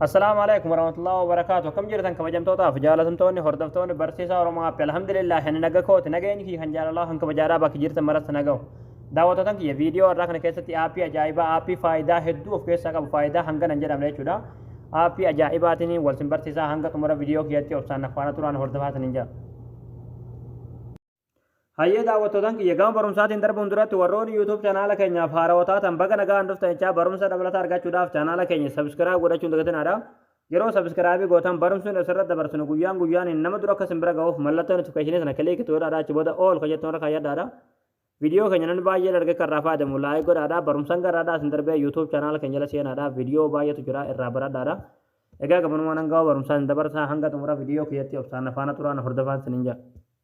Assalaamu alaikum warahmatullahi wabarakaatu akkam jirtan kabajamtootaaf jaalatamtoonni hordoftoonni barsiisaa Oromoo Appi alhamdulillah ani naga kooti nageenyi kiyya kan jaalalaa kan kabajaadhaa bakki jirtan maratti nagahu daawwatootan kiyya viidiyoo irraa kana keessatti aappii ajaa'ibaa aappii faayidaa hedduu of keessaa qabu faayidaa hangana hin jedhamne jechuudha aappii ajaa'ibaatiin wal sin barsiisaa hanga xumura viidiyoo kiyyatti obsaan nafaana turaan hordofaa sin hin jaa Hayyee daawwattootaan kiyya gama barumsaatiin darbuun duratti warroonni YouTube chanaala keenyaaf haarawa taatan baga nagaan dhuftan jechaa barumsa dabalataa argachuudhaaf chanaala keenya subscribe godhachuun dagatinaadha. Yeroo subscribe gootan barumsi nuti asirratti dabarsinu guyyaan guyyaaniin nama dura akka isin bira ga'uuf mallattoo notification sana kiliik itti godhaadha achi booda all kan jettan irra kaayyadhaadha. Viidiyoo keenya namni baay'een arge kan irraa fayyadamu laayik godhaadha. Barumsaan garaadhaa isin darbee YouTube chanaala keenya jala seenaadha. Viidiyoo baay'eetu jira irraa baradhaadha. Egaa gabanumaan hanga barumsaa isin dabarsaa hanga xumura viidiyoo kiyyatti obsaan na faana turaa na hordofaan isiniin jedha.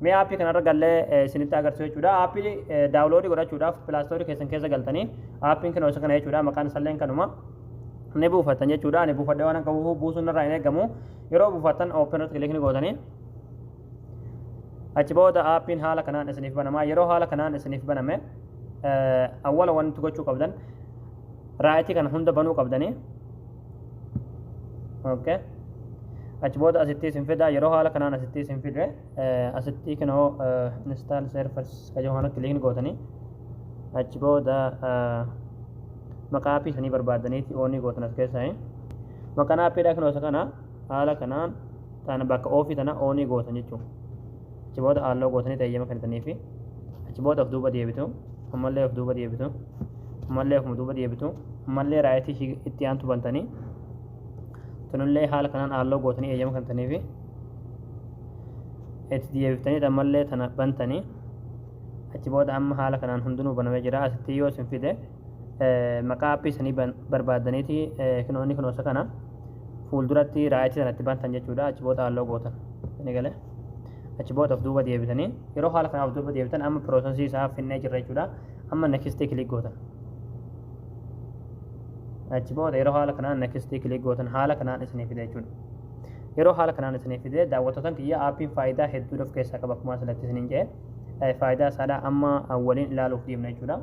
Mee aappii kanarra gallee eh, isinitti agarsiisu jechuudha. Aappii eh, daawuloodii godhachuudhaaf pilaastoorii keessan keessa galtanii aappiin kinoo isa kana jechuudha maqaan isalleen kanuma. ni buufattan jechuudha. Ani buufadhee waan akka buufuu buusuun irraa hin eegamu. Yeroo buufattan open irratti kilikni gootanii achi booda aappiin haala kanaan isiniif banamaa yeroo haala kanaan isiniif baname eh, awwala wanti gochuu qabdan raayitii kana hunda banuu qabdanii okay achi booda asitti isin fida yeroo haala kanaan asitti isin fide asitti kinoo install servers kajoo kana kiliin gootanii achi booda maqaa appii isanii barbaadaniiti oonii gootan as keessaa maqaan appiidhaa kinoo isa kana haala kanaan tana bakka oofii tana oonii gootan jechuudha Achi booda haaloo gootanii eeyyama kennitaniifi achi booda of duuba deebitu ammallee of duuba deebitu ammallee ofuma duuba deebitu ammallee raayitii ishii itti aantu bantanii tunillee haala kanaan haaloo gootanii eeyyama kennitaniifi itti deebiftanii ammallee tana bantanii achi booda amma haala kanaan hundinuu banamee jira asitti yoo isin fide maqaa appii sanii barbaadaniiti kinoo inni kinoosa kana fuulduratti raayitii sanatti bantan jechuudha achi booda halloo gootan ni galee achi booda of duuba deebitanii yeroo haala kanaaf duuba deebitan amma piroosesii isaa finnee jirra jechuudha amma nekistii kilik gootan achi booda yeroo haala kanaan nekistii kilik gootan haala kanaan isinii fide jechuudha yeroo haala kanaan isinii fide daawwattotan kiyya aappiin faayidaa hedduu of keessaa qaba akkuma asirratti isiniin jedhe faayidaa isaadhaa amma waliin ilaaluuf deemna jechuudha.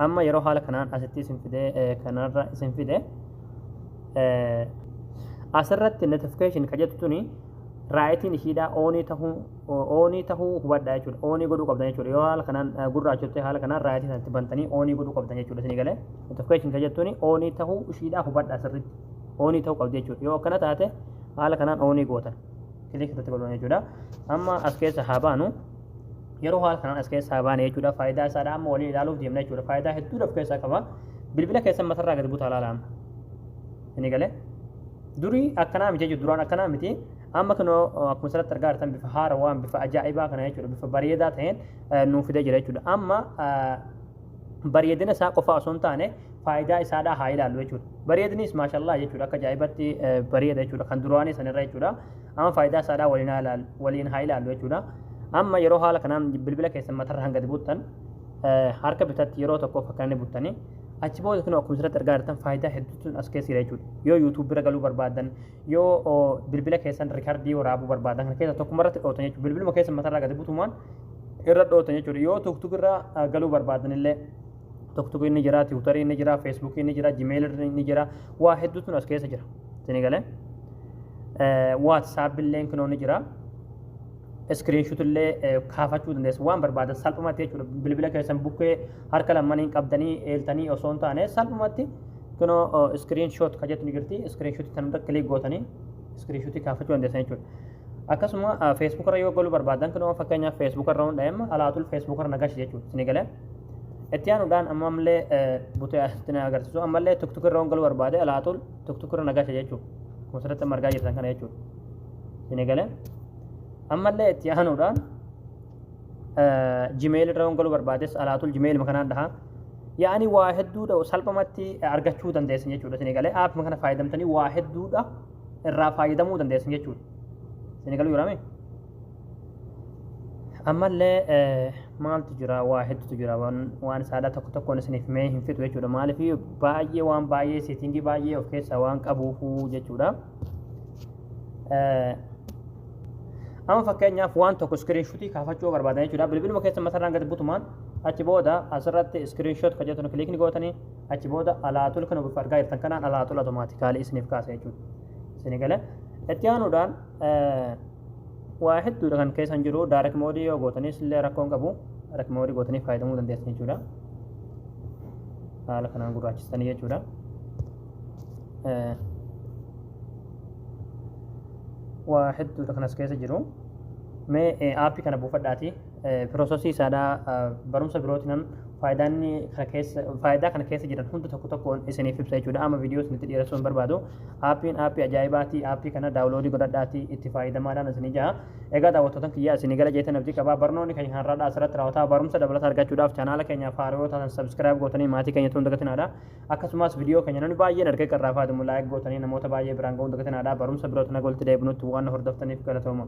amma yeroo haala kanaan asitti isin fide kanarra isin fide asirratti notification ka jettu tuni raayitiin ishiidhaa oonii tahuu oonii tahuu hubadhaa jechuudha oonii godhuu qabdan jechuudha yoo haala kanaan gurraachottee haala kanaan raayitiin itti bantanii oonii godhuu qabdan jechuudha isinii galee notification ka jettuuni oonii tahuu ishiidhaa hubadhaa sirriitti oonii tahuu qabdi jechuudha yoo akkana taate haala kanaan oonii gootan kilik irratti godhan jechuudha amma as keessa haa baanu yeroo haala kanaan as keessaa baane jechuudha faayidaa isaadha amma waliin ilaaluuf deemna jechuudha faayidaa hedduu of keessaa qaba bilbila keessan matarraa gadi butaa laala amma inni galee durii akkanaa miti jechuudha duraan akkanaa miti amma kunoo akkuma asirratti argaa jirtan bifa haarawaan bifa ajaa'ibaa kana jechuudha bifa bareedaa ta'een nuu fidee jira jechuudha amma bareedina isaa qofa osoo hin taane faayidaa isaadhaa haa ilaallu jechuudha bareedinis maashallaa jechuudha akka ajaa'ibatti bareeda jechuudha kan duraanii sanirra jechuudha Amma faayidaa isaadhaa waliin haa ilaallu, waliin haa ilaallu jechuudha. Amma yeroo haala kanaan bilbila keessan matarra hanga gadi buttan eh, harka bitatti yeroo tokko fakkaannee buttanii achi booda kun akkuma asirratti argaa jirtan faayidaa hedduutu as keessa jira jechuudha. Yoo YouTube bira galuu barbaadan, yoo oh, bilbila keessan rikardii waraabuu barbaadan kana keessa tokkuma irratti dhootan jechuudha. Bilbiluma keessan matarraa gadi butumaan irra dhootan jechuudha. Yoo tuuktuuk irraa ah, galuu barbaadan illee Tokko inni jira, tiwutarii inni jira, feesbuukii inni jira, jimeelirri inni jira, waa hedduutu as keessa jira. Isinii galee? Waatsaappi illee kinoo ni jira. Iskiriinshuut illee kaafachuu dandeessu. Waan barbaadan salphumatti jechuudha. Bilbila keessan bukkee harka lamaniin qabdanii eeltanii osoo hin taane salphumatti kinoo iskiriinshoot kan jettu ni jirti. Iskiriinshuutii kan irra kilik gootanii iskiriinshuutii kaafachuu dandeessan jechuudha. Akkasuma feesbuukarra yoo galuu barbaadan kinoo fakkeenyaaf feesbuukarra hundaa'a alaatul feesbuukarra nagashi jechuudha. Isinii galee? Itti aanuudhaan amma ammallee butee asitti na agarsiisu ammallee tuktuki irra galuu barbaade alaatul tuktuki irra nagasha jechuudha. Kun sirriitti amma argaa jirtan kana jechuudha. Isin eegalee ammallee itti aanuudhaan jimeeli irra galuu barbaades alaatul jimeeli kanaan dhahaa. Yaa'anii waa hedduudha salphamatti argachuu dandeessan jechuudha. Isin eegalee app kana fayyadamtanii waa hedduudha irraa fayyadamuu dandeessan jechuudha. Isin eegaluu jiraamee? ammallee maaltu jira waa hedduutu jira waan saadaa tokko tokkoon isiniif mee hin fixu jechuudha maaliif baay'ee waan baay'ee seetingii baay'ee of keessaa waan qabuufuu jechuudha amma fakkeenyaaf waan tokko iskiriinshuutii kaafachuu barbaadan jechuudha bilbiluma keessa matarraan gad butumaan achi booda asirratti iskiriinshuut kan jettu kiliikni gootanii achi booda alaatul kan ofiif argaa jirtan kanaan alaatul automaatikaalii isiniif kaasa jechuudha isinii galee itti aanuudhaan waa hedduudha kan keessan jiru daarek moodii yoo gootanis illee rakkoon qabu daarek moodii gootanii fayyadamuu dandeessan jechuudha haala kanaan gurraachistanii jechuudha waa hedduudha kanas keessa jiru mee aappii kana buufadhaatii Piroosasii isaadhaa barumsa birootinan faayidaa inni kana keessa faayidaa kana keessa jiran hunda tokko tokkoon isiniif ibsa jechuudha. Amma viidiyoo isinitti dheeressuu hin barbaadu. Aappiin aappii ajaa'ibaati. Aappii kana daawuloodii godhadhaatii itti faayidamaadhaan isinii jaha. Egaa daawwattootan kiyyaa isinii gala jeetan abdii qabaa. Barnoonni keenya kan har'aadhaa asirratti raawwataa barumsa dabalataa argachuudhaaf chaanaala keenya faaroo taatan sabskiraayib gootanii maatii keenya tuun dagatinaadha. Akkasumas viidiyoo keenya namni baay'een argee qarraa fayyadamu laayik gootanii namoota baay'ee biraan ga'uun dagatinaadha. Barumsa birootiin hanga walitti deebinutti waan na hordoftaniif galatooma.